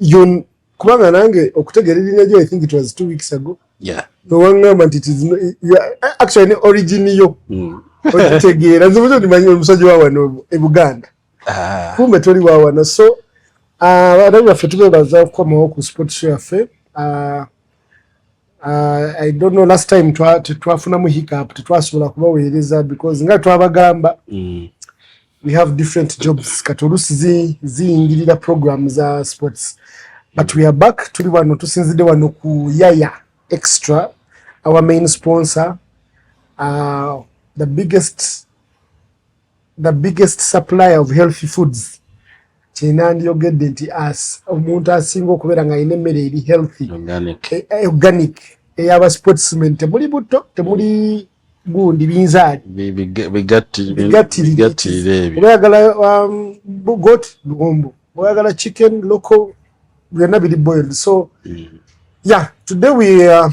Yun, kubanga nange okutegera erina jo i think it was two weeks ago yeah. nowangamba nti actually ne origin yo mm. okitegeera nze muzo ndimanyi omusajja wawano e buganda ah. kumbe toli wawano so ah, abaana baffe tubebaza okukomawo ku sport show yaffe ah, Uh, I don't know last time twafuna mu hiccup tetwasobola kubaweereza because nga twabagamba mm. we have different jobs kati oluusi ziyingirira zi program za sports but we are back tuli wano tusinzidde wano ku yaya extra our main sponsor uh, the biggest the biggest supplier of healthy foods kyena ndiyogedde nti as omuntu asinga okubeera nga alina emmere eri healthy organic eh, eh, eyaba sportsman temuli butto temuli gundi binzaali bigattirireoyagala um, got luwombo oyagala chicken local byonna biri boiled so mm. yeah today we uh,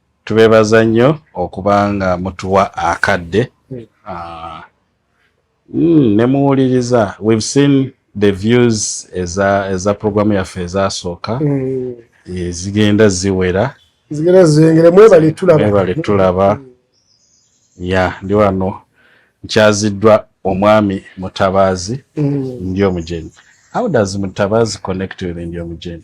Tubebaza nnyo okuba nga mutuwa akadde hmm. ah, hmm, ne muwuliriza we've seen the views eza eza programu yaffe ezasooka hmm. eh, zigenda ziwera zigenda zengere mwebale tulaba mwebale tulaba ya ndi wano nkyaziddwa omwami mutabaazi mm. ndi omujenyi how does mutabaazi connect with ndi omujenyi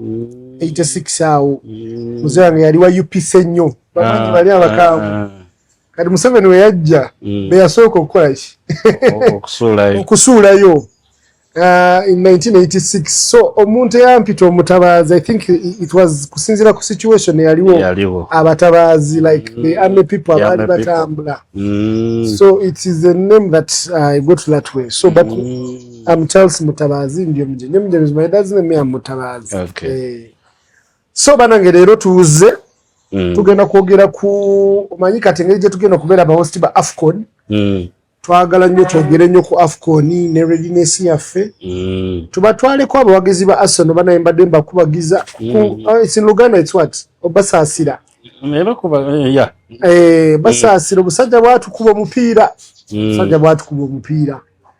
86 awo mzee wange yali wa UPC nnyo bamanyi ah, bali abakaamu ah, ah. kati Museveni we yajja mm. be yasooka okukola ki okusuulayo in 1986 so omuntu eyampita omutabaazi i think it was kusinziira ku situation eyaliwo abatabaazi like mm. the army people abaali batambula mm. so it is a name that uh, i got that way so but mm. I'm Charles Mutabazi ndio mje. Ndio mje my dad's name I'm Mutabazi. Okay. Eh. So bana ngere lero tuuze mm. tugenda kwogera ku manyi kati ngeri je tugenda kubera ba host ba Afcon. Mm. Twagala nyo twogere nyo ku Afcon ni ne readiness ya fe. Mm. Tubatwale kwa abawagizi ba Arsenal bana emba demba kubagiza. Mm. Ku, uh, ah, it's in Luganda it's what? Obasa asira. Mera kuba eh, ya. Eh, basa mm. asira obusajja bwatu kuba mupiira. Mm. Sajja bwatu kuba mupiira.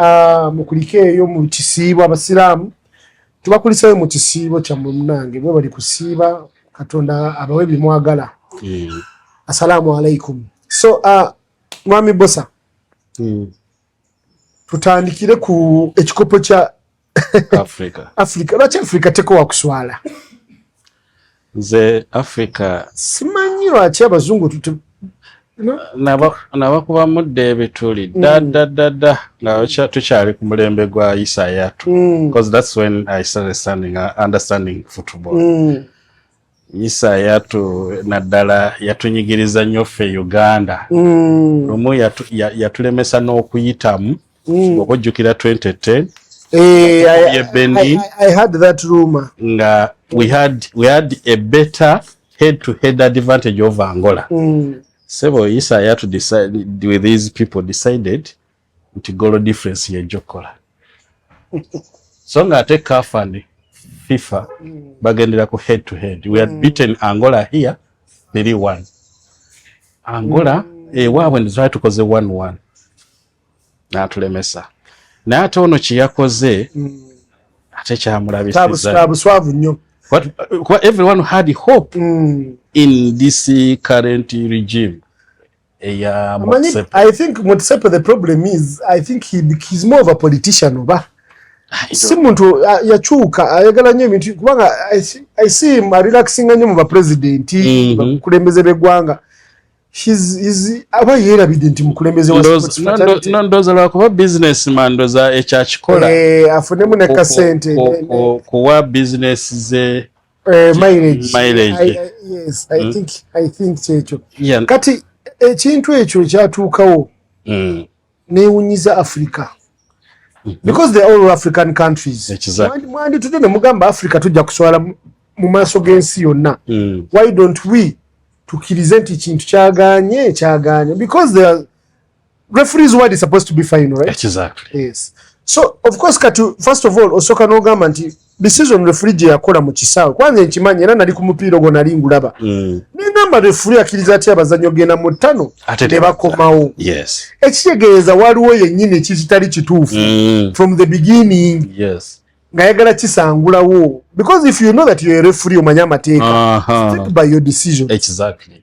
Ah, mukulike eyo mu kisiibo abasiraamu tubakuliseyo mu kisiibo kyammwe munange bwe bali kusiiba katonda abawe bimwagala mm. assalaamu alaikum so uh, mwami bosa mm. tutandikire ku ekikopo kya Africa. Africa. Lwaki Africa teko wakuswala? Nze Africa. Simanyi lwaki abazungu tute nabakuba mudda ebituli mm. dadadada nga tukyali ku mulembe gwa isayatu mm. because that's when i started standing, uh, understanding football mm. Isayatu naddala yatunyigiriza nnyo ffe Uganda mm. lumu yatulemesa n'okuyitamu mm. oba ojjukira 2010 eh, nga we had, we had a better head to head advantage of Angola mm. sebo Isayatu with these people decided nti goal difference yejja okukola so nga ate caf and fifa bagendera ku head to head we had mm. beaten angola here three one angola mm. ewaabwe eh, nzaa tukoze one one natulemesa naye ate ono kyeyakoze mm. ate kyamulabisizabuswavu nnyo What, what everyone had hope mm. in this current regime eya Motsepe. I think Motsepe the problem is I think he he's more of a politician oba. Ah, si muntu ah, yakyuka ayagala nnyo ebintu kubanga I see him relaxing nnyo mu ba president mhm. bakulembeze b'eggwanga. aba yeerabidde nti mukulembeze ndoza lwakuba bizinesi ma ndoza ekyakikola eh, afunemu nekasente kuwa bizinesi ze eh, mileage mileage I, I, yes i mm. think i think checho yeah. kati ekintu ekyo kyatuukawo mm. newunyiza africa mm-hmm. because the all african countries mwanditude ne mugamba africa tujja kuswala mu maaso g'ensi yonna mm. why don't we tukirize nti kintu kyaganye kyaganye because there referees word is supposed to be final right exactly yes so of course kati first of all osoka no gamba nti the season referee je yakola mu kisawe kwanze nkimanyi era nali ku mupira gona lingulaba mm. ne ngamba referee akiriza ati abazanyo gena mu tano ne bakomawo yes ekitegeeza waliwo yennyini kizitali kituufu mm. from the beginning yes nga yagala kisangulawo because if you know that you're a referee omanya amateeka uh -huh. stick by your decision exactly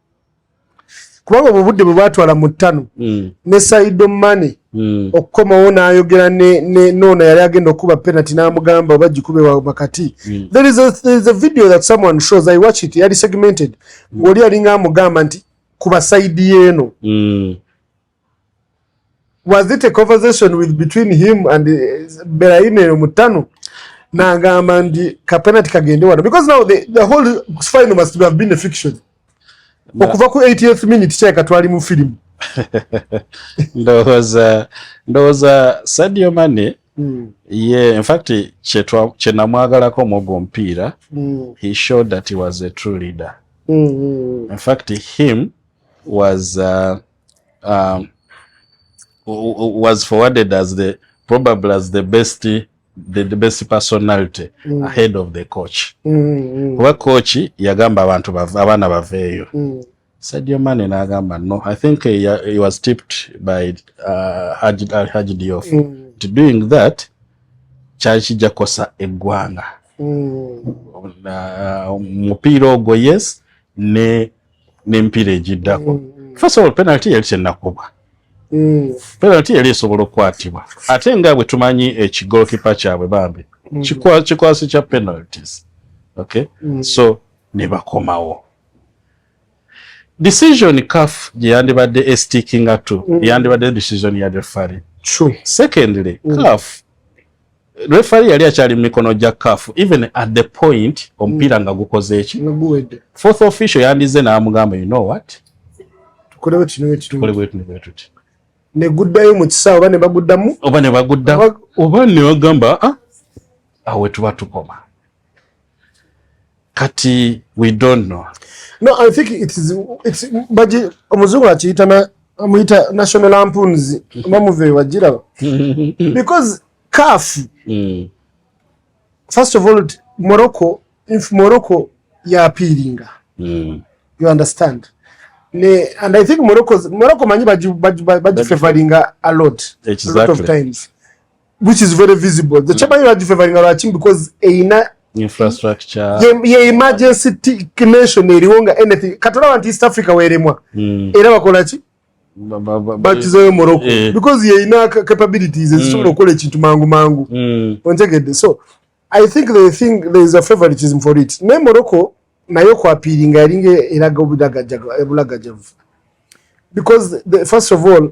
kubanga obwo budde bwe bwatwala mu ttano mm. ne saido mane mm. okukomawo n'ayogera noona yali agenda okukuba penalty n'amugamba oba gikube wakati mm. there is a, there is a video that someone shows i watch it yali segmented ng'oli mm. alinga amugamba nti kuba saidi yeeno mm. was it a conversation with between him and uh, Beraine Mutano nagamba ndi kapenati kagende wano because now the, the whole final must have been a fiction okuva ku 80th minute kyeka twali mu film ndowooza ndowooza sadio mane mm. ye in fact kyenamwagalako mwogo omupiira mm. he showed that he was a true leader mm -hmm. in fact him was uh, um, was forwarded as the probably as the best the, the best personality mm. ahead of the coach mm, mm. kuba coach yagamba abantu abaana baveeyo mm. Sadio Mane nagamba no I think he, he was tipped by uh, Haji, uh, Haji Diouf mm. to doing that kyali kijja kukosa eggwanga mm. uh, mupiira ogwo yes ne n'emipiira egiddako mm, mm. first of all penalty yali tenakubwa mm. penalty yali esobola okukwatibwa ate nga bwe tumanyi ekigolkipa kyabwe bambi kikwasi kya penalties okay so ne bakomawo decision caf gye yandibadde estikinga to yandibadde decision ya refari secondly caf Referee yali akyali mu mikono gya CAF even at the point omupiira nga gukoze eki. Fourth official yandize n'amugamba you know what? Tukole bwe tuno bwe tuno. Tukole bwe tuno bwe tuno. Ne guddayo mu kisaawe oba ne baguddamu? Oba ne baguddamu. Oba ne bagamba ah awe tuba tukoma. kati we don't know no i think it is it's baji omuzungu akiyita na amuyita national lampoons mamuve wajira because caf mm. first of all morocco if morocco ya appealinga mm. you understand ne and i think morocco morocco manyi baji baji baji favoringa a lot exactly. a lot of times which is very visible the chairman yali favoring lwaki because eina infrastructure ye emergency nation eriwo nga anything katolaba nti east africa weremwa hmm. era bakola ki bakizayo morocco eh. because ye eina capabilities hmm. ezisobola okukola ekintu mangu mangu hmm. ontegedde so i think the thing there is a favoritism for it naye morocco naye okwapiiringa yalinga eraga obulagajavu because the, first of all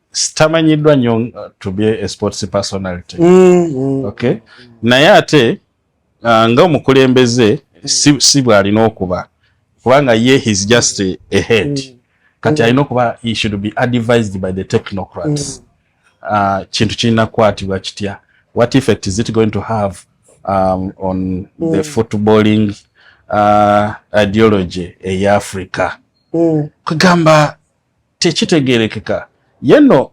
sitamanyiddwa nnyo uh, to be a sports personality mm, mm. okay naye ate uh, nga omukulembeze si, si bwalina okuba kubanga ye his just a, a head mm. kati mm. alina okuba he should be advised by the technocrats mm. uh, kintu kirina kukwatibwa kitya what effect is it going to have um, on mm. the footballing uh, ideology eya africa mm. kugamba tekitegerekeka yeno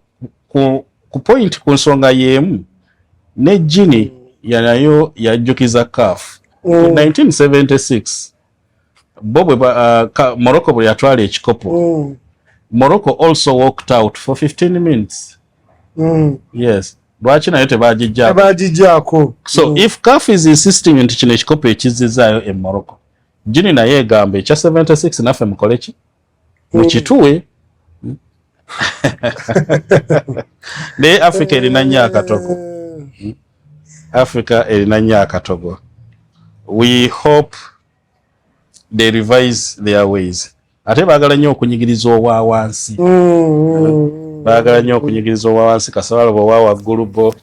ku, ku point ku nsonga yemu ne jini yanayo yajjukiza caf mm. 1976 bo bwe uh, morocco bwe yatwala ekikopo mm. morocco also walked out for 15 minutes mm. yes lwaki nayo tebagijjako so mm. if caf is insisting nti kino ekikopo ekizizaayo e morocco jini naye egamba ekya 76 naffe mukoleki mukituwe naye africa erina nnyo akatogo eh. africa erina nnyo akatogo we hope they revise their ways ate baagala nnyo okunyigiriza owa wansi mm, mm. baagala nnyo okunyigiriza owa wansi kasabaloba owa waggulu bo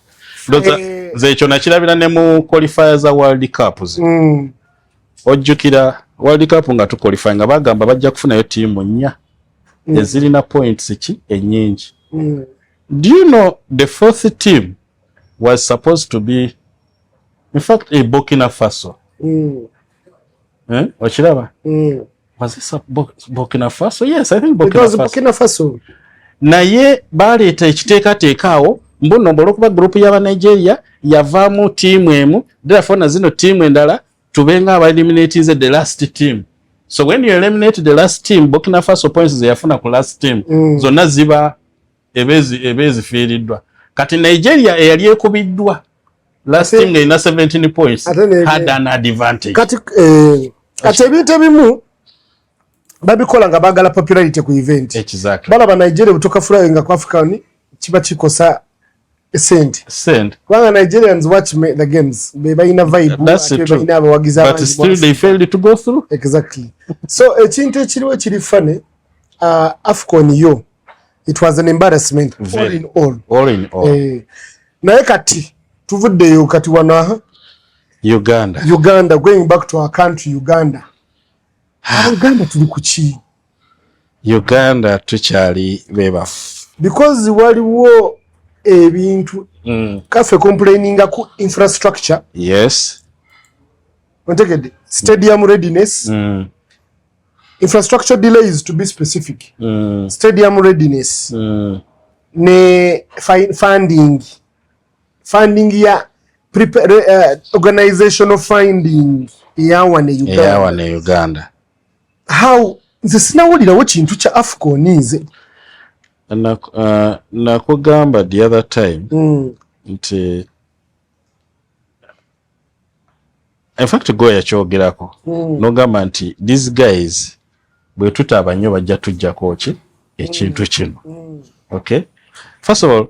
eh. nze ekyo nakirabira ne mu qualifier za world cups mm. ojjukira world cup nga tuqualify nga bagamba bajja kufunayo tiimu nnya mm. ezirina points ki enyingi mm. do you know the fourth team was supposed to be in fact a burkina faso mm. eh? okiraba mm. was this a Burkina Faso? Yes, I think Burkina Faso. It was Faso. Burkina Faso. Naye baleeta ekiteekateeka awo mbuno olwokuba gurupu yaba Nigeria yavaamu tiimu emu therefore na zino tiimu endala tubenga aba eliminatinze the last team so when you eliminate the last team Burkina Faso points zeyafuna ku last team mm. zonna ziba ebeezifiiriddwa kati Nigeria eyali ekubiddwa last team nga ina 17 points had an advantage kati eh, kati ebintu ebimu babikola nga bagala popularity ku event exactly. balaba nigeria butoka fulayo nga ku africa ni kiba kikosa sente sente kubanga nigerians watch me, the games bebalina vibebalina abawagizi exactly so ekintu ekiriwo ekiri fane uh, afcon yo it was an embarrassment all in all all in all eh naye kati tuvudde yo kati wana Uganda Uganda going back to our country Uganda ah. Uganda tuli kuchi Uganda tuchali bebafu because waliwo ebintu mm. kafe complaining ku infrastructure yes ontegede stadium readiness mm. infrastructure delays to be specific mm. stadium readiness mm. ne funding funding ya prepare, uh, organization of funding eyawa ne uganda, eyawa ne uganda. how nze sinawulirawo kintu kya afcon nze nakugamba uh, the other time mm. nti in fact go yakyogerako mm. nogamba nti these guys bwe tutaaba nnyo bajja tujjako ki ekintu mm. kino mm. okay first of all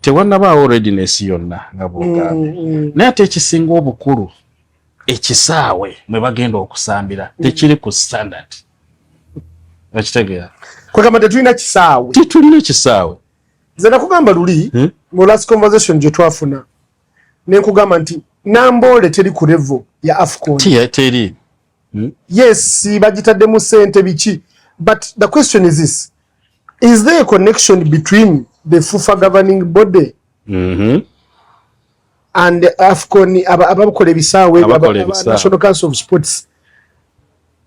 tewanabaawo readiness yonna nga bwogambye mm, mm. naye ate ekisinga obukulu ekisaawe mwe bagenda okusambira mm. tekiri ku standard okitegeera kwegamba tetulina kisaawe tetulina kisaawe nze nakugamba luli hmm? mu last conversation gye twafuna nenkugamba nti namboole teri ku revo ya afcon teri hmm? yes bagitaddemu sente biki but the question is this is there a connection between the fufa governing body mm -hmm. and afcon abakola ebisaawe national council of sports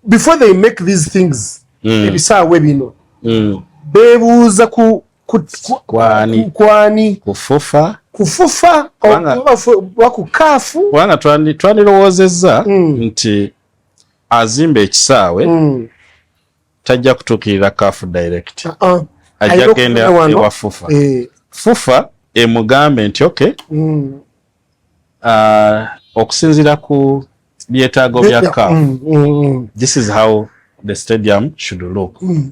before they make these things mm. ebisaawe bino mm. bebuuza ku kwani kwani kufufa kufufa oba ku kaafu kubanga twandirowoozezza mm. nti azimba ekisaawe mm. tajja kutuukirira kaafu direct uh -uh. ajja genda ewa fufa eh. fufa emugambe nti oky mm. uh, okusinzira ku byetaago bya kaafu mm, mm, mm. this is how the stadium should look mm.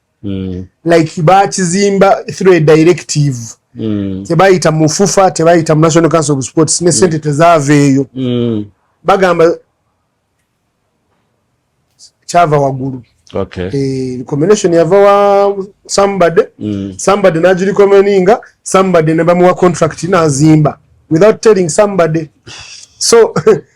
mm. like bakizimba through a directive mm. tebayita mu fufa tebayita mu national council of sports ne sente mm. tezaava eyo mm. bagamba kyava waggulu okay. e, eh, combination yava wa somebody mm. somebody nagirikomeninga somebody nebamuwa contract nazimba without telling somebody so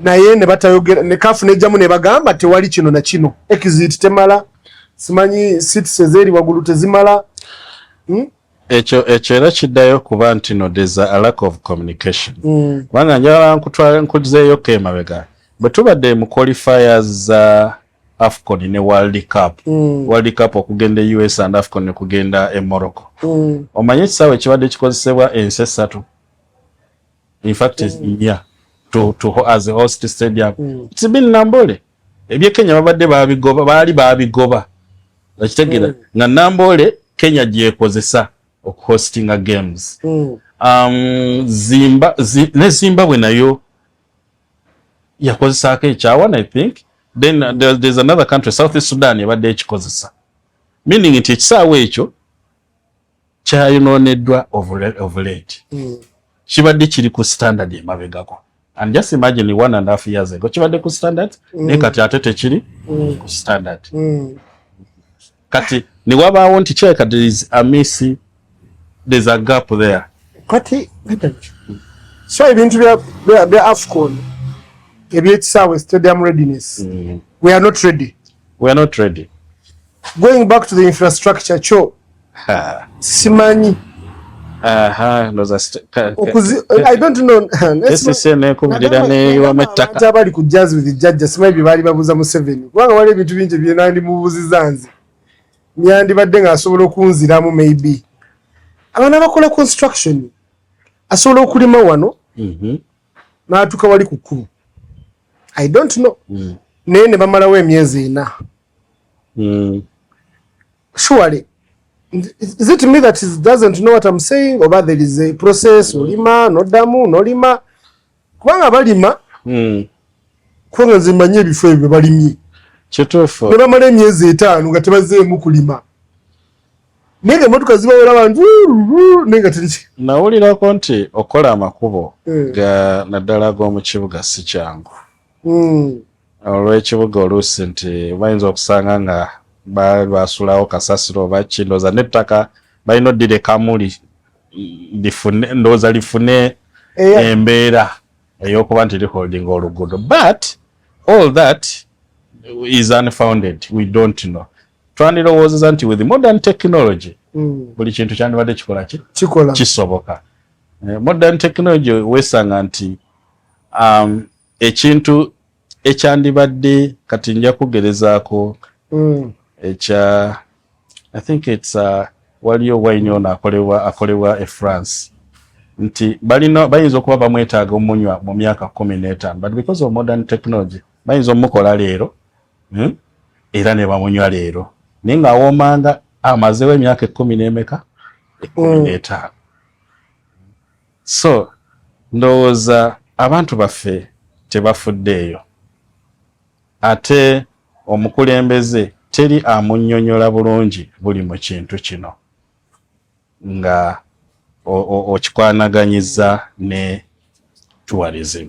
naye ne batayogera ne kafu ne jamu ne bagamba tewali kino na kino exit temala simanyi seats ezeri wagulu tezimala hmm? ekyo ekyo era kiddayo kuba nti no there's a lack of communication mm. kubanga njala nkutwala nkuzeeyo ko emabega bwe tubadde mu qualifiers za uh, afcon ne world cup mm. world cup okugenda e us and afcon ne kugenda e morocco mm. omanye ekisaawe ekibadde kikozesebwa ensi essatu in fact mm. yeah to to as a host stadium mm. it's been nambole ebye kenya babadde babigoba baali babigoba okitegera mm. nga nambole kenya gyekozesa okuhostinga games mm. um, zimba zi, ne zimbabwe nayo yakozesaako ekyawan i think then uh, there, there's another country south sudan ebadde ekikozesa meaning nti ekisaawa ekyo kyayonooneddwa of late hmm. kibadde kiri ku standard emabegako and just imagine one and half years ago kibadde ku standard mm. naye kati ate tekiri mm. ku standard mm. kati newabaawo nti kyeka there is a miss there's a gap there kati so ebintu bya bya, bya afcon ebyekisaawe stadium readiness mm. we are not ready we are not ready going back to the infrastructure cho Ha, simanyi. Aha, ndoza sitaka. Okuzi, I don't know. Esi sene kubulira ne wa mataka. Nta bali ku jazz with judge, simanyi bibali babuza mu seven. Wanga wale bitu binje bye nandi mubuzi zanzi. Nyandi badde nga asobola okunziramu maybe. Abana bakola construction. Asobola okulima wano. Mhm. Mm natuka wali kukulu i don't know mm. naye ne bamalawo emyezi ena mm. surely is it me that is doesn't know what I'm saying oba there is a process olima nodamu nolima kubanga balima mm. kubanga nze mmanyi ebifo ebyo balimye kituufu ne bamala emyezi etaano nga tebazeemu kulima naye nga emotoka zibawera abantu naye nga teri nawulirako nti okola amakubo eh. ga naddala ag'omu kibuga si kyangu hmm. olw'ekibuga oluusi nti bayinza okusanga nga basulawo kasasiro oba ki ndowooza n'ettaka balina oddirekamu lifune ndowooza lifune embeera ey'okuba nti liholdinga oluguudo but all that is unfounded we don't know twandirowoozeza nti with modern technology hmm. buli kintu kyandibadde kikola ki kisoboka eh, modern technology wesanga nti um, ekintu ekyandibadde kati nja kugerezaako mm. ekya i think its uh, waliyo wayini ono akolebwa akolebwa e france nti balina bayinza okuba bamwetaaga omunywa mu myaka kumi n'etaano but because of modern technology bayinza omukola leero hmm? era ne bamunywa leero naye ng'awoomanga amazewo emyaka ekkumi n'emeka ekkumi mm. n'etaano So ndowooza abantu baffe tebafuddeeyo ate omukulembeze teri amunyonyola bulungi buli mu kintu kino nga okikwanaganyiza ne tourism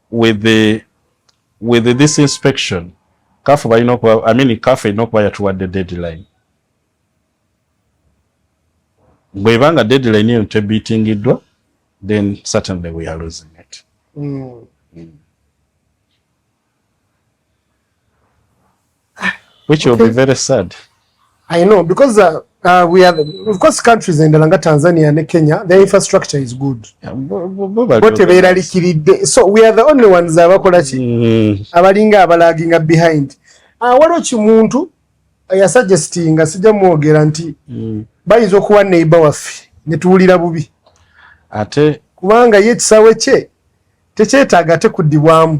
with the with this inspection kafu balina okuba i mean kafu erina okuba yatuwadde deadline bweba nga deadline eyo tebitingiddwa then certainly we are losing it mm. Mm. Which will be very sad. I know because uh, uh, we are of course countries in Dalanga, Tanzania and Kenya their infrastructure is good. What a very kid. So we are the only ones that are mm. abalinga abalaginga behind. Ah uh, waliwo kimuntu eh, ya suggesting nga sijja mwogera nti mm. bayinza okuwa neighbor waffe ne tuwulira bubi. Ate kubanga ye kisawe kye tekyetaaga ate kuddibwamu.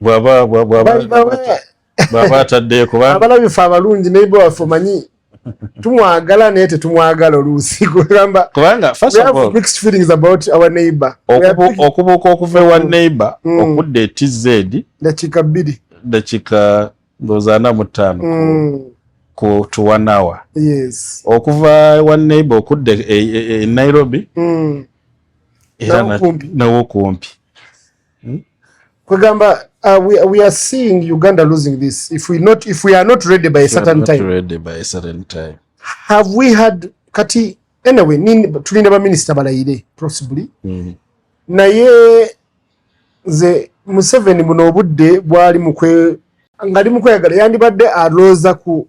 bwaba bwaba bwaba atadde kuba abalabifa abalungi naye bwa fumanyi tumwagala naye tetumwagala oluusi kugamba kubanga first of all mixed feelings about our neighbor okubuuka okuva ewa mm. neighbor mm. okudda etz dakika bbiri dakika ndowooza ana mu ttaano mm. ku to one hour yes okuva ewa neighbor okudda e, e, e, e nairobi mm. era nawo kumpi hmm? kwegamba uh, we, we are seeing uganda losing this if we, not, if we are not ready by a certain time, ready by a certain time have we had kati anyway tulinda baminisita balayire possibly mm. naye nze museveni buno obudde bwali mukwe ngali mukweyagala yandibadde alooza ku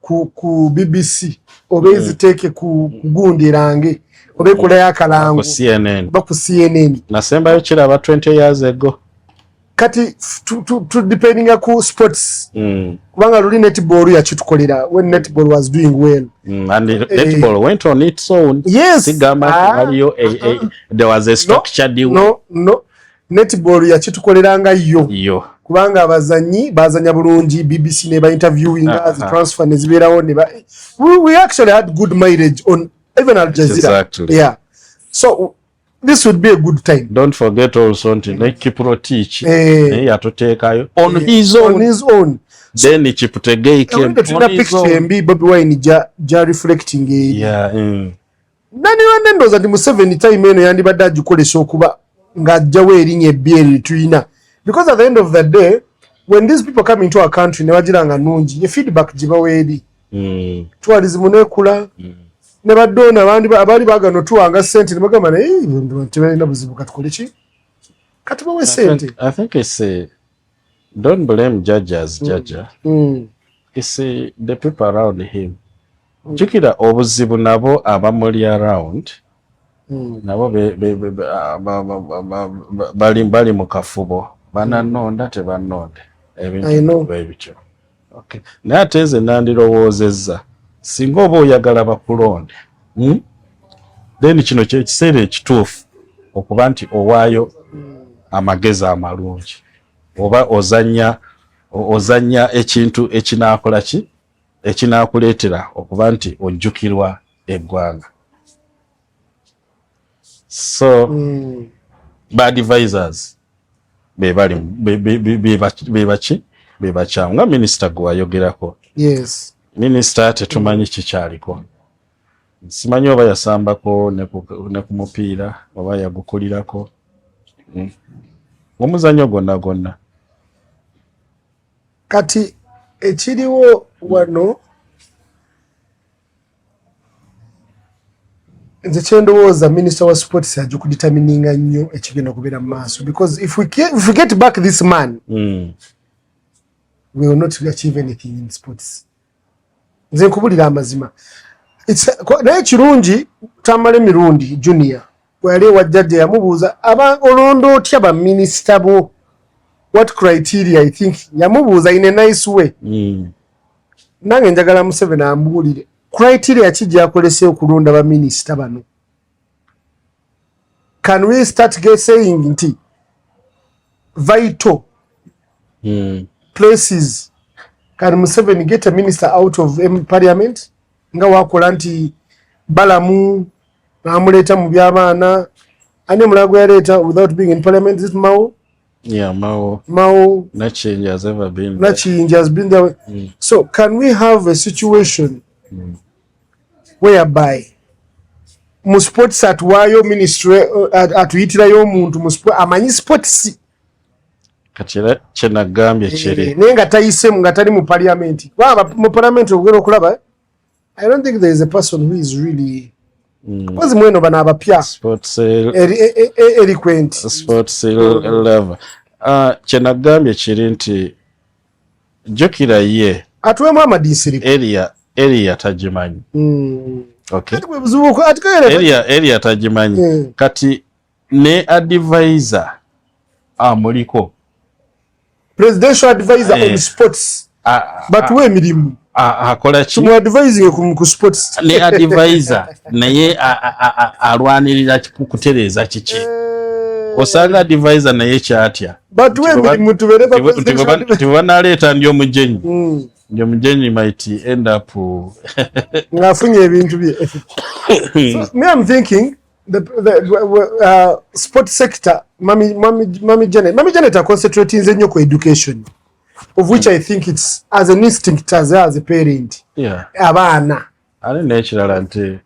ku, ku BBC oba mm. eziteeke ku gundi erange oba ekolayo akalango oba ku CNN nasembayo kiraba 20 years ago kati tudependinga ku sports mm. kubanga luli netball yakitukolera when netball was doing well mm, and eh, netball went on its own yes sigama ah, waliyo eh, eh, there was a structure no, deal no no netball yakitukolera nga yo yo kubanga abazanyi bazanya bulungi BBC ne ba interviewing uh -huh. the transfer ne ziberawo ne ba we, we actually had good mileage on even Al Jazeera exactly. yeah so this would be a good time don't forget also nti ne Kipro teach eh, ne yatutekayo on eh, his own on his own then so, Kiptegei came on his own tuna picture mbi Bobby Wine ja, ja reflecting eh, yeah mm. nanirwanda ndowooza nti museveni time eno yandibadde agikolesa okuba ng'ajjawo erinya ebbi eri litulina because at the end of the day when these people come into our country ne bagira nga nungi ye feedback gibawo eri hmm. twalizimu nekula hmm. ne badoona abaali bagana otuwanga sente nebagamba naye tebalina buzibu katukole ki kati bawe sente Don't blame Jaja as Jaja. Mm. Mm. You see the people around him. Mm. Jukira obuzibu nabo abamuli around mm. nabo be, be, be, be, ah, ba, ba, ba, ba, ba, bali, bali mu kafubo bananonda mm. tebanonde ebintu bebityo Okay. Naye ate nze nandirowoozezza singa oba oyagala bakulonde hmm? then kino kyekiseera ekituufu okuba nti owaayo amagezi amalungi oba ozanya ozanya ekintu ekinakola ki ekinakuleetera okuba nti ojjukirwa eggwanga so mm. ba advisors bebali bebaki bebakyamu nga minisita gwe wayogerako yes. minisita tetumanyi kikyaliko simanyi oba yasambako ne ku mupiira oba yagukulirako hmm. omuzanyo gonna gonna kati ekiriwo wano nze kyendowooza minisita wa sports ajja okuditamininga nnyo ekigenda okubeera mu maaso because if we, can, if we get back this man mm. we will not achieve anything in sports nze nkubulira amazima naye kirungi tamale mirundi junior Wali wa jajja yamubuuza aba olonda otya ba minister bo what criteria i think yamubuuza in a nice way mm. nange njagala museveni ambuulire criteria ki gyakolesa okulonda ba minister bano can we start get saying nti vital mm. places can museveni get a minister out of parliament nga wakola nti balamu namuleeta mu byabaana ani omulala gwe yaleeta without being in parliament is it mao yeah mao mao nakiyingi has ever been nakiyingi has been there mm. so can we have a situation mm. whereby mu sports atuwaayo ministry uh, atuyitirayo omuntu amanyi sports kati era kyenagambye eh, kiri naye nga tayisemu nga tali mu paliamenti baba mu paliamenti ogera okulaba eh? i don't think there is a person who is really mpozi mm. mweno bano abapya eloquent mm. ah, kyenagambye kiri nti jukira ye atuwemu amadiisiriko eriya tagimanyi mm. eriya tagimanyi kati ne advisor amuliko ah, presidential advisor eh, on sports ah, ah, but we emirimu akola ki mu advising ku, ku sports ne advisor naye alwanirira kutereeza kiki eh. osanga advisor naye kyatya but we emirimu tubeere ba presidential tibanaleeta ndi omujenyi mm. ndi omujenyi might end up ng'afunye ebintu bye me i'm thinking the, the uh, sport sector mami mami mami Janet mami Janet are concentrating in your education of which I think it's as an instinct as as a parent yeah abana ali nekirala nti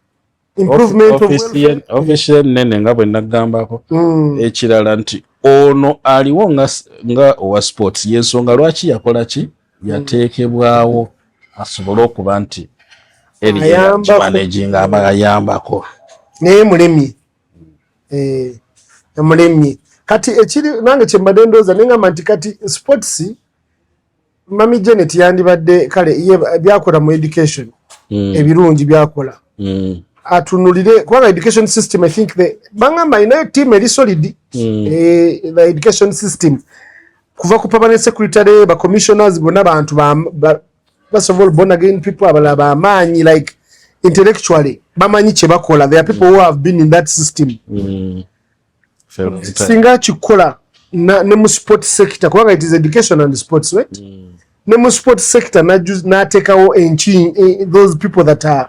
improvement official official nene nga bwe nagambako mm. ekirala nti ono aliwo nga nga owa sports yensonga lwaki yakola ki yateekebwawo asobole okuba nti erimanejinga aba ayambako naye mulemye eh, mulemye kati ekiri nange kyembadde ndooza nengamba nti kati sports mami janet yandibadde kale byakola mu education hmm. ebirungi byakola hmm. atunulire kubanga education system i think bangamba inayo team eri solid hmm. eh, the education system kuva ku permanent secretary ba commissioners bona bantu ba, ba first of all born again people abala ba manyi like intellectually bamanyi kye bakola there are people mm. who have been in that system mm. singa kikola na ne mu sport sector kubanga it is education and sports right mm. ne mu sport sector na natekawo enchi eh, those people that are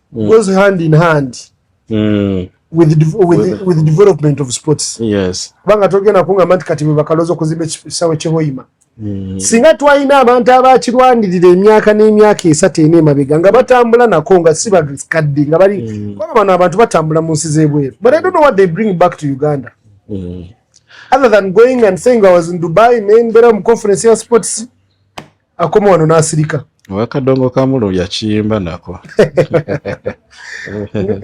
mm. goes hand in hand mm. with, de with, with, with development of sports yes. kubanga togenda kungamba nti kati bwebakaloza okuzimba ekisawe kyehoima mm. singa twalina abantu abakirwanirira emyaka n'emyaka esatu ena emabega nga batambula nako nga si bakadde nga bali mm. kuba bano abantu batambula mu nsi z'ebweru but i don't know what they bring back to uganda mm. other than going and saying i was in dubai nembeera mu conference ya sports akoma wano n'asirika wakadongo kamulo yakiyimba nako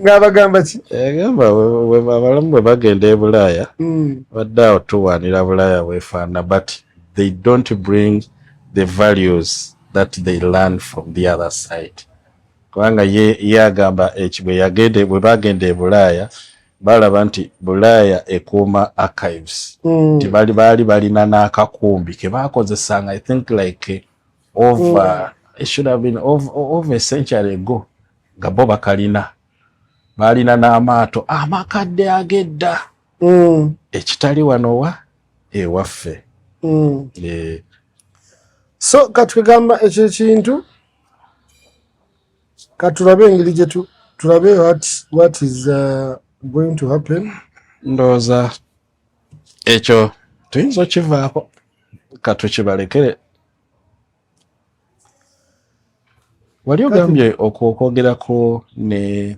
ngabagamba ki egamba eh, abalamu bwe bagenda e bulaaya hmm. badde awo tuwaanira bulaaya wefaana but they don't bring the values that they learn from the other side kubanga ye agamba ekibwe eh, yagende bwe bagenda e bulaaya balaba nti bulaaya ekuuma archives mm. nti bali baali balina n'akakumbi ke baakozesanga i think like over mm. should have been over, over a century ago nga bo bakalina baalina n'amaato amakadde agedda mm. ekitali wanowa ewaffe mm. e, so katugamba ekyo ekintu katulabe engeri gye tulabe what is uh, going to happen ndowooza ekyo tuyinza okivaako katukibalekere wali ogambye okwogeraku ne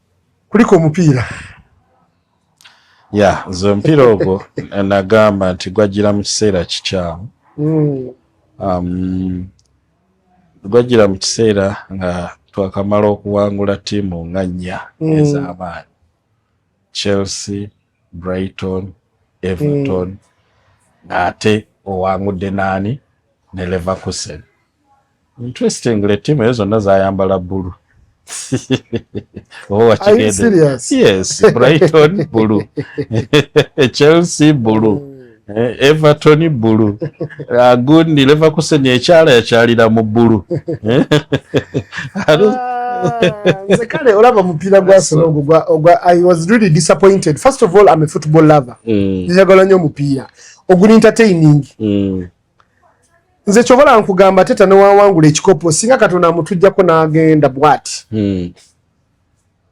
kulika omupiira ya nze omupiira ogwo nagamba nti gwajjira mu kiseera kikyamu hmm. um, gwajjira mu kiseera nga twakamala okuwangula ttiimu nga nnya hmm. ez'amaanyi chelsea brighton everton mm. ng'ate owangudde naani ne leverkusen interestingly tiimu eyo zonna zayambala bbulu oba wakigendeyes brighton bbulu chelsea bbulu mm. Eh, Everton bulu agundi leva kusenya ekyala yakyalira mu bulu eh? ah, nze kale olaba omupiira gwasona ogwo gwa ogwa i was really disappointed first of all i'm a football lover mm. njagala nnyo omupiira oguli entertaining mm. nze kyobola nkugamba teta newawangula ekikopo singa katonda amutujjako n'agenda bwati mm.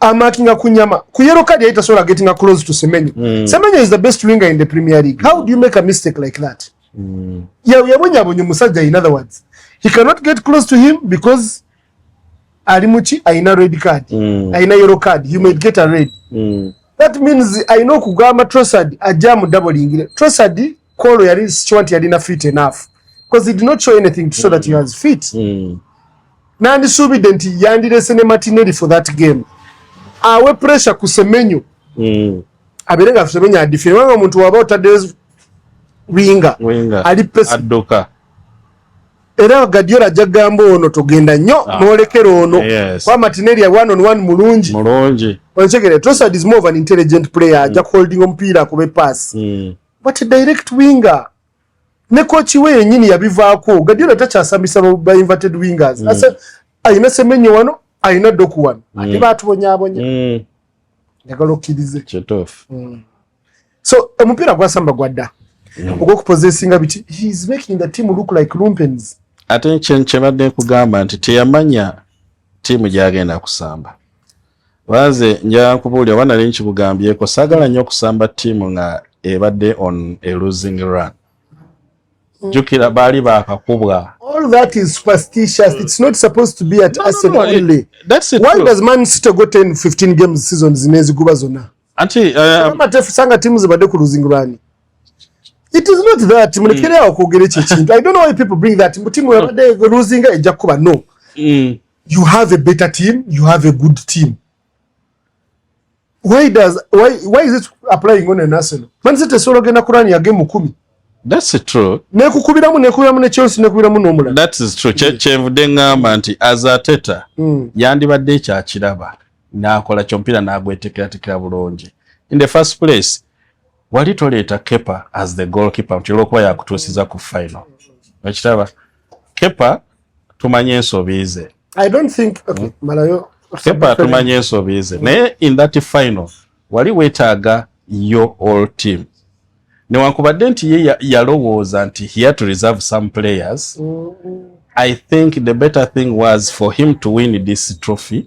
amakinga kunyama ku yellow card yaita sola getting a close to semenyo mm. semenyo is the best winger in the premier league how do you make a mistake like that mm. ya ya bonya bonya musaja in other words he cannot get close to him because alimuchi aina red card mm. aina yellow card you might get a red mm. that means i know kugama trosad ajamu double ingile trosad call yari sichwanti yari na fit enough because he did not show anything to show mm. that he was fit mm. nandisuubidde nti yandirese ne matineri for that game awe pressure ku semenyo mm. abeere nga semenyo adifire kubanga omuntu waba otaddeyo winga ali pesa era gadiola ajja kugamba ono togenda nnyo ah. nolekera ono yes. kwa matineri ya one on one mulungi mulungi onsekere trosad is more of an intelligent player mm. ajja kuholding omupiira akube pass mm. but direct winger ne kochi we yenyini yabivaako gadiola takyasambisa ba inverted wingers mm. asa ayina semenyo wano ayina doku wano mm. ate batubonyabonya mm. njagala okkirize mm. so omupiira gwasamba gwadda mm. ogwokupozesinga biti he is making the team look like lumpens ate kyebadde nkugamba nti teyamanya tiimu gyagenda kusamba Wala nze nja kubuulira oba nali nkibugambyeko saagala nnyo okusamba ttiimu nga ebadde on a losing run jukira baali bakakubwa all that is superstitious mm. it's not supposed to be at no, Arsenal no, no, only that's it why true. does man city go 10 15 games season zineziguba zona anti uh, matefu sanga timu zibadde ku losing run it is not that mm. mulekere awo kwogera ekyo ekintu i don't know why people bring that mbu timu yabadde losing ejja kuba no mm. you have a better team you have a good team why does why why is it applying on an arsenal man city solo genda kurani ya game 10 That's true. Ne kukubiramu ne kukubiramu ne Chelsea ne kukubiramu no mulala. That is true. Che chenvu dengamba nti as a teta mm. yandi badde cha kiraba na akola chompira na agwetekera tekera bulonje. In the first place wali toleeta kepa as the goal keeper nti olwokuba yakutuusiza ku final okitaba kepa tumanye ensobi ze kepa tumanye ensobi ze naye in that final wali wetaaga yo all team newankubadde nti ye yalowooza nti he had to reserve some players mm -hmm. i think the better thing was for him to win this trophy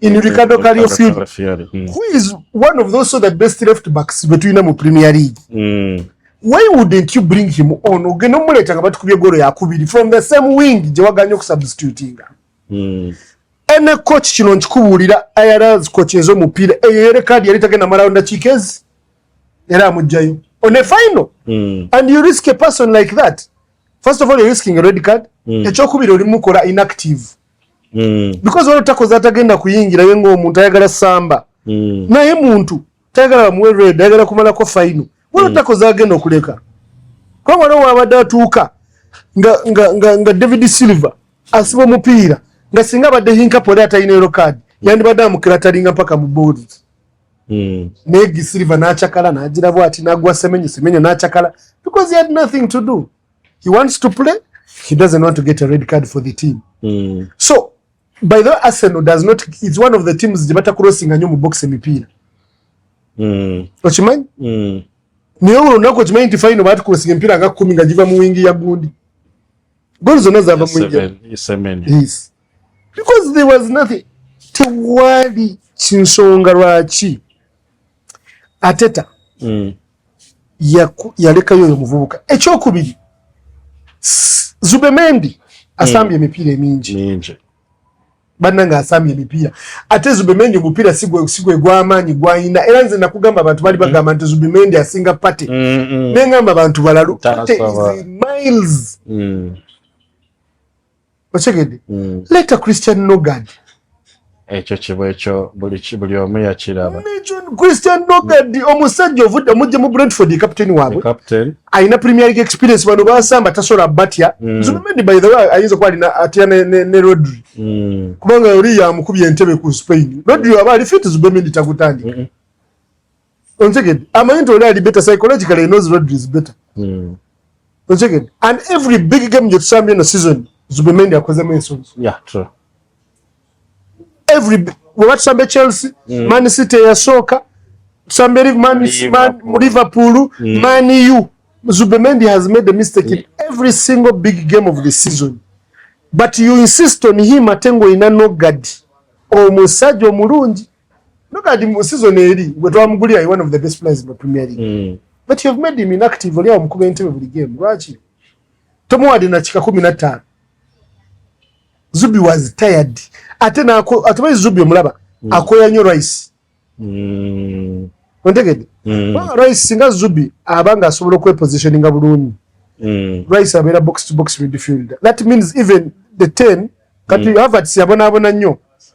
in Ricardo Calafiori Fiori mm. who is one of those so the best left backs between them Premier League mm. why wouldn't you bring him on ogenda omuleeta nga batukubye golo yakubiri from the same wing gye waganya okusubstitutinga mm. ene coach kino nkikubuulira irls coach ez'omupiira eyo yere kaadi yali tagenda malawo ndakiika ezi era amugjayo on a final mm. and you risk a person like that first of all you're risking a red card mm. ekyokubiri olimukola inactive mm. because waliwo takoze atagenda kuyingira ye ngaomuntu ayagala samba mm. naye muntu tayagala bamuwe red ayagala kumalako faino waliwo mm. takoze agenda okuleka kuba waliwo wabadde atuuka nga, nga, nga, nga david silver asiba omupiira nga singa abadde hinkapo era atalina ero kaadi mm. yandibadde amukira atalinga mpaka mu boodi mm. naye gisiliva n'acakala n'agira bwati n'agwa semenyo semenyo n'acakala because he had nothing to do he wants to play he doesn't want to get a red card for the team mm. so by the way arsenal does not it's one of the teams gye batakurosinga nnyo mu box emipiira mm. okimanyi mm. naye olwo lunaku okimanyi nti fayino baatukurosinga emipiira nga kumi nga giva mu wingi ya gundi gooli zonna zaava mu wingi because there was nothing tewali kinsonga lwaki ateta mm. yalekayo oyo muvubuka ekyokubiri zubemendi asambye hmm. emipiira emingi banange asambye emipiira ate zubemendi omupiira sigwegwamaanyi gwayina era nze nakugamba abantu bali hmm. bagamba nti zubemendi asinga pate hmm, nengamba abantu balalu miles okitegedde mm. leta christian nogad ekyo kiba ekyo buli omu yakiraba christian nogad omusajja ovudde omujja mu brentford captain waabwe alina premier league experience bano basamba tasobola batya mm. zubimendi by the way ayinza kuba alina atya ne rodri mm. kubanga oli yamukubya entebe ku spain rodri aba ali fit zubimendi takutandika ontegedde amanyi nti oli ali better psychologically knows rodri is better hmm. ontegedde and every big game gyetusambye eno season zubemendi akozemu ensonga every bweba tusambye chelsea hmm. man city eyasooka tusambye liverpool hmm. man u zubemendi has made a mistake in every single big game of the season but you insist on him ate ngaolina nogadi omusajja omulungi Look at him season eri gwe twamugulira one of the best players in the Premier League. Mm. But you have made him inactive oli awo mukuba entebe buli game. Lwaki? Tomuwadde na kika kumi na ttaano. Zubi was tired. Ate naako atubayi Zubi omulaba. Mm. Akoya nnyo Rice. Mm. Ontegedde? Mm. Well, Rice singa Zubi abanga asobola okwepositioninga bulungi. Mm. Rice abeera box to box midfielder. That means even the ten kati mm. Havertz yabonaabona nnyo.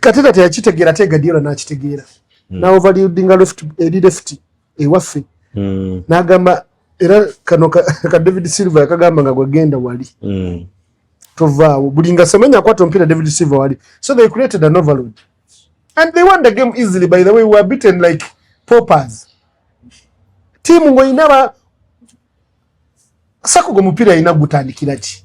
kateta teyakitegera te gadiola nakitegeera mm. na overludinga left eri left ewaffe mm. nagamba era kano ka, ka david silver yakagamba nga gwegenda wali mm. tovaawo buli nga semenya akwata omupiira david silver wali so they created an overload and they won the game easily by the way we were beaten like popers tiimu ngaoyina ba sakuga omupiira yina gutandikira ki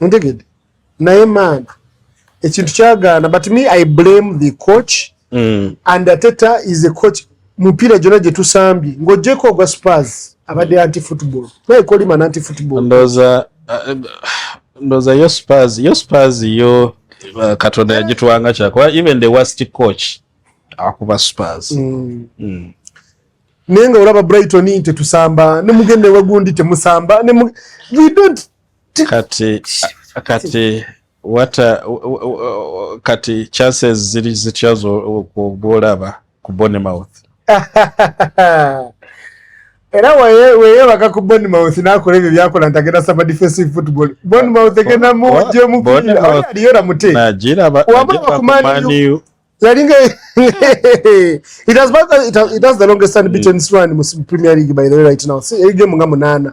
ntegede naye maana ekintu kyagaana but me i blame the coach mm. and ateta is a coach mupiira gyona gyetusambye ngaogyeko ogwa spars abadde anti football naye kolima nanti football ndoza uh, ndoza yo spars yo spars yo uh, katonda yagitwanga kyakuba even the worst coach akuba spars mm. mm. naye nga olaba brighton tetusamba nemugenda ewagundi temusamba we don't kati kati wata kati chances ziri zitya gwolaba ku bonmouth era weyebaka ku bonmouth nakola ebyo byakola nti agenda saba defensive football bonmouth egenda mujemualiyo ramuteawabakumaniu yalinga it has, it has the longest unbeaten mm. run mu premier league by the way right now si egemu nga munana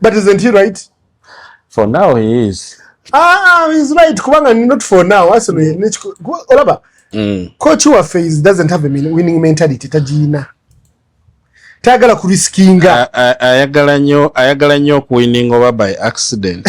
but isn't he right for now he is ah he's right kubanga not for now asino mm. nechiko olaba mm. coach wa phase doesn't have a winning mentality tajina tagala ku riskinga ayagala nyo ayagala nyo ku winning over by accident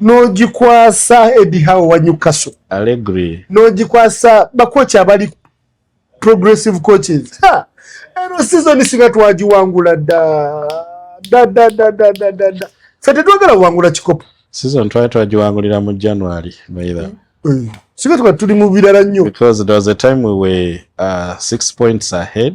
nogikwasa edihawo wanyukaso nogikwasa bakoci abali progressive coaches eno season singa twagiwangula dadadadadadada fe tetwagala wangula kikopo season twali twagiwangulira mu january maitha mm. mm. singa tuba tuli mu birala nnyo because there was a time we were uh, six points ahead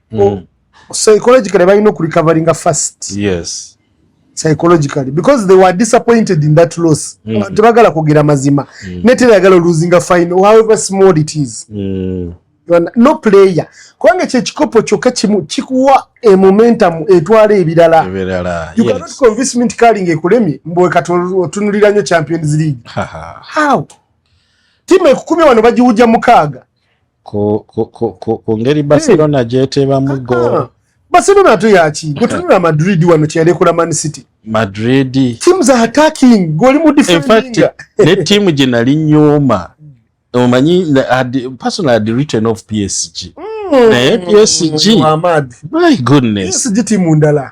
mm. psychologically balina okurecoveringa first yes psychologically because they were disappointed in that loss mm. tebagala kugera mazima mm. netera yagala losing a final however small it is mm. no player kubanga ekyo ekikopo kyokka kimu kikuwa emomentum etwala ebirala you yes. cannot convince me nti kaling ekulemye mbwe kati otunulira nnyo champions league how timu ekukumi wano bagiwuja mukaaga ku, ku, ku, ku, ku ngeri eh. barcelona hey. gyeteebamu ah, goolo ah. barcelona ate yaki gwetunula madrid wano kyeyalekola man city madrid teams are attacking goli mu defending ne tiimu gye nali nyuma omanyi personal had written of psg mm. naye psg my goodness psg tiimu ndala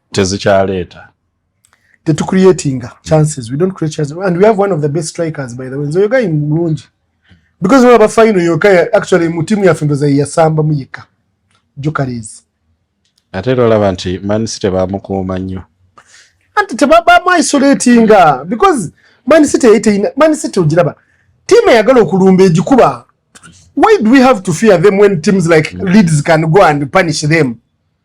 tezikyaleeta tetucreatinga chances we don't create chances and we have one of the best strikers by the way nzoyoga in mulungi because olaba final yoka actually mu timu yaffe ndoza yeyasamba mu yekka jokarees ate era olaba nti man city bamukuuma nnyo anti tebabamu isolatinga because man city yeyiteyina man city ogiraba tiimu eyagala okulumba egikuba why do we have to fear them when teams like mm. leads can go and punish them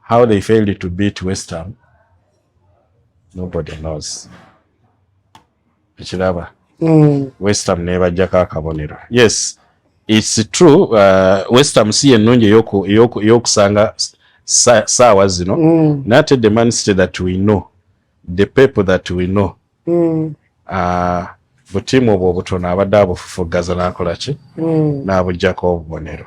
How they failed to beat West Ham nobody knows. Ekiraba mm. West Ham nebajjako akabonero. Yes, it's true uh, West Ham si ennungi eyokusanga saawa zino mm. nate the man city that we know the people that we know mm. uh, butiimu obwo obutono abadde abufufuggaza nakolaki mm. nabujjako obubonero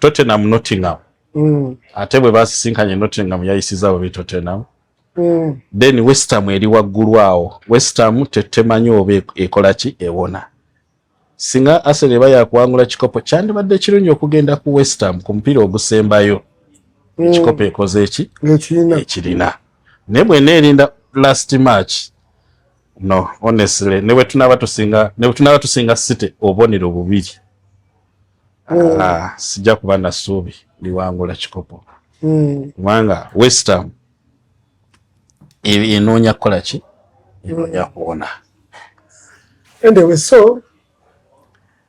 Tottenham Nottingham mm. ate bwe basisinkanye Nottingham yayisiza babi Tottenham mm. then West Ham eri waggulu awo West Ham tetemanyi oba e-, ekola ki ewona singa Arsenal eba yakuwangula kikopo kyandibadde kirungi okugenda ku West Ham ku mupiira ogusembayo mm. ekikopo ekoze eki ekirina naye bwena erinda last match no honestly ne bwe tunaba tusinga ne bwe tunaba tusinga city obonero bubiri mm. ah, sijja kuba na suubi liwangula kikopo mm. kubanga mm. westham enoonya kukola ki enoonya mm. kuwona anyway so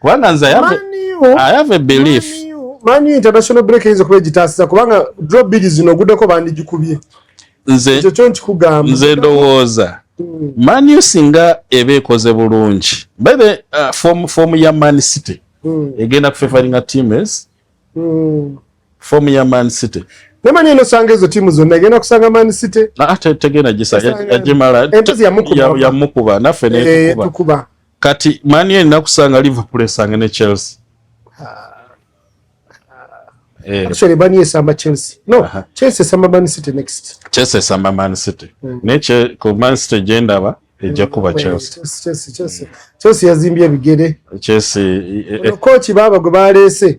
kubanga nze ayave belief mani international break eyinza okuba egitaasiza kubanga dro biri zino oguddeko bandigikubye ekyo kyo nkikugamba nze ndowooza hmm. mani singa eba ekoze bulungi bebe uh, fomu fom ya man city hmm. egenda kufefaringa teams hmm. fomu ya man city nemanyi enosanga ezo tiimu zonna egenda kusanga man city ah, tegenda gisayagimala yamukuba naffe netukuba eh, kati mani ena kusanga liverpool esange ne chelsea eh. actually mani esamba chelsea no uh -huh. chelsea esamba man city next chelsea esamba man city mm. ne che ko man city genda ba ejja kuba hmm. chelsea chelsea chelsea chelsea yazimbye bigere chelsea eh, eh. coach baba gwe balese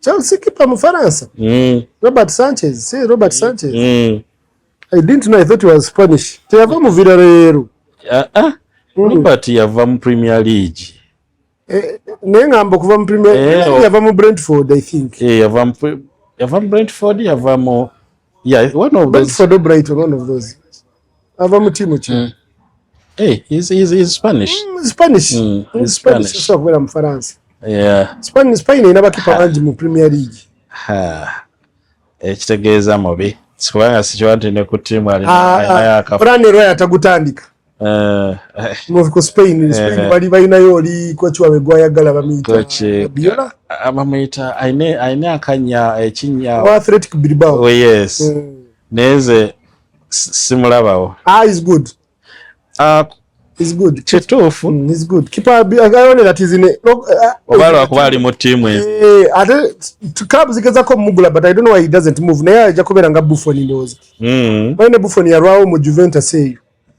Chelsea keeper Mufaransa. Mm. Robert Sanchez. See Robert Sanchez. Mm. I didn't know I thought he was Spanish. Teyava mu Villarreal. Ah, ah. Mm. Robert yava mu Premier League. Eh, naye ngamba okuva mu Premier eh, oh. yava mu Brentford I think. Eh, yava mu yava mu Brentford yava mu yeah, one of those. Brentford or Brighton one of those. ava mu tiimu ki mm. eh, kubeera mu faransa spain erina bakipa bangi mu premier league ekitegeeza eh, mubi kubanga sikiwa nti ne ku tiimu alinaayakafuranero ah, ah, yatagutandika eh, ku spain spain bali balinayo oli koci wabwe gwayagala bamuyita bamuyita alina akanya ekinya athletic bilbao oh, yes mm. neze simulabawo ah, is good uh, is good kituufu mm, is good kipaayonera tizine eh, eh, oba lwakuba ali mu tiimu eyo eh, ate club zigezako omugula but i don't know why he doesn't move naye ajja kubeera nga buffon ndowooza mm. bali ne buffon yalwawo mu juventus eyo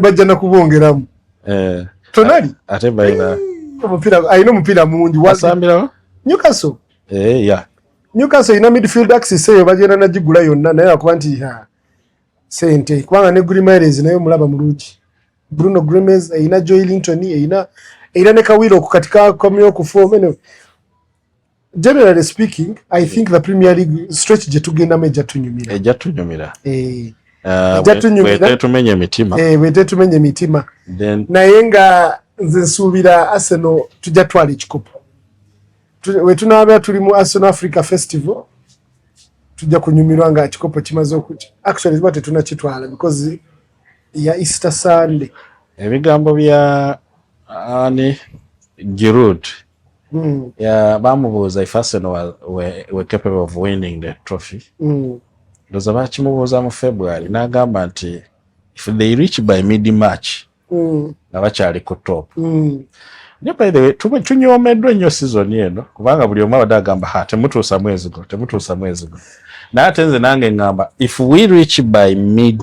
bajja nakubongeramu eh, tonali ate baina omupira alina omupira mungi wasambirawo newcastle eh, yeah. newcastle ina midfield axis eyo bagenda nagigula yonna naye akuba nti sente kubanga ne grimares naye omulaba mulungi bruno grimes eyina joy linton eyina eyina ne kawiro okukatika komyokufomene generally speaking i think the premier league stretch gye tugendamu ejja tunyumira ejja tunyumira eh. uh, ejja tunyumiraetetumenya emitima eh, bwetetumenya emitima naye nga nze nsuubira arsenal tujja twala ekikopo wetunaabera tuli mu arsenal africa festival tujja kunyumirwa nga kikopo kimaze okuja actually ziba tetunakitwala because ya easter sunday ebigambo bya ani girud Mm. Yeah, bamubuuza if Arsenal were, were, were capable of winning the trophy. Mm. Ndoza bakimubuuza mu February n'agamba nti if they reach by mid March mm. nga bakyali ku top. Mm. Naye by the way tunyoomeddwa ennyo season eno kubanga buli omu abadde agamba ha temutuusa mwezi guno temutuusa mwezi guno. Naye ate nze nange ngamba if we reach by mid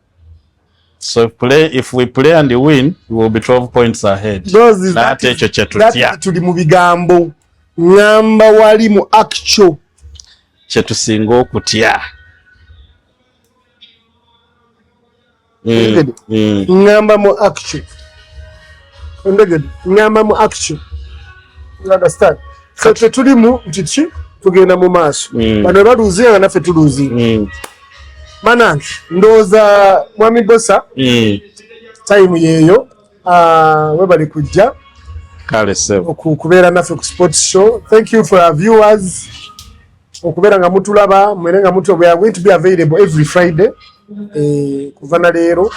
So if, play, if we play and win, we will be 12 points ahead. Nate ekyo kye tutya. Tuli mu bigambo ngamba wali mu actual kye tusinga okutya. Mm, mm. Ngamba mu actual. Ondegede, ngamba mu actual. You understand? So tuli mu nti tugenda mu maaso. Mm. Bano baluzi nga naffe tuluzi. banange ndowooza mwami bosa mm. time yeeyo ah, webali kujja okubeera naffe ku sport show thank you for our viewers okubeera nga mutulaba mwere nga mutu we are going to be available every friday eh, kuva na leero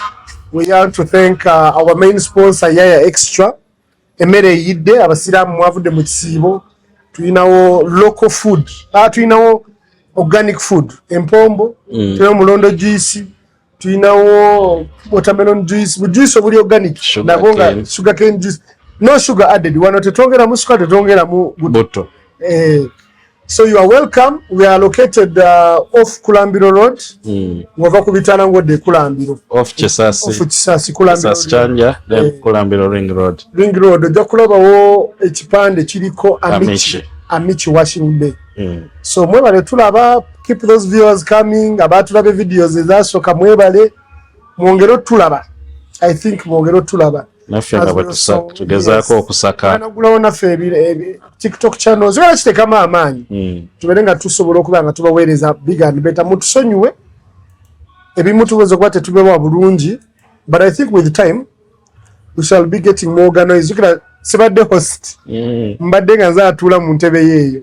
we are to thank uh, our main sponsor yaya extra emmere eyidde abasiraamu mwavudde mu kisiibo tulinawo local food ah, tulinawo organic food empombo mm. tulinawo mulondo juice tulinawo watermelon juice bujuice obuli organic nabwo nga sugar cane juice no sugar added wano tetwongeramu suka tetwongeramu butto eh, So you are welcome. We are located uh, off Kulambiro Road. Mm. Ngova kubitana ngode Kulambiro. Off Chisasi. Off Chisasi Kulambiro. Chisasi Chanja, then eh. Kulambiro Ring Road. Ring Road. Oja kulaba wo ekipande chiliko Amici. Amici, Amici washing day. Mm. So mwebale tulaba, keep those viewers coming. Aba tulabe videos eza soka mwebale. Mwongero tulaba. I think mwongero tulaba. naffe nga bwetusa tugezaako okusaka nagulawo naffe tiktok channel zibera kitekamu amaanyi hmm. tubeere nga tusobola okuba nga tubaweereza big and better mutusonyiwe ebimu tuweza okuba tetubewa bulungi but i think with time we shall be getting more organized zukira sibadde host hmm. mbadde nga nze atuula mu ntebe yeeyo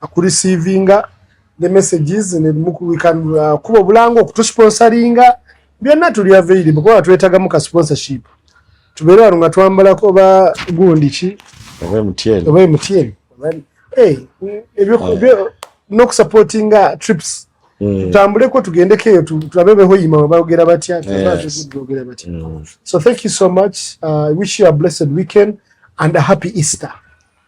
akurisiivinga the messages ne mukuwika uh, kuba obulanga okutusponsoringa byonna tuli available kuba twetagamu ka sponsorship tubeere wano nga twambalako oba gundi ki oba emutiyeni oba emutiyeni eh, ah. nokusupportinga trips hmm. tutambuleko tugendeko eyo tulabe behoyima bagera batya bagera batya hmm. so thank you so much uh, i wish you a blessed weekend and a happy easter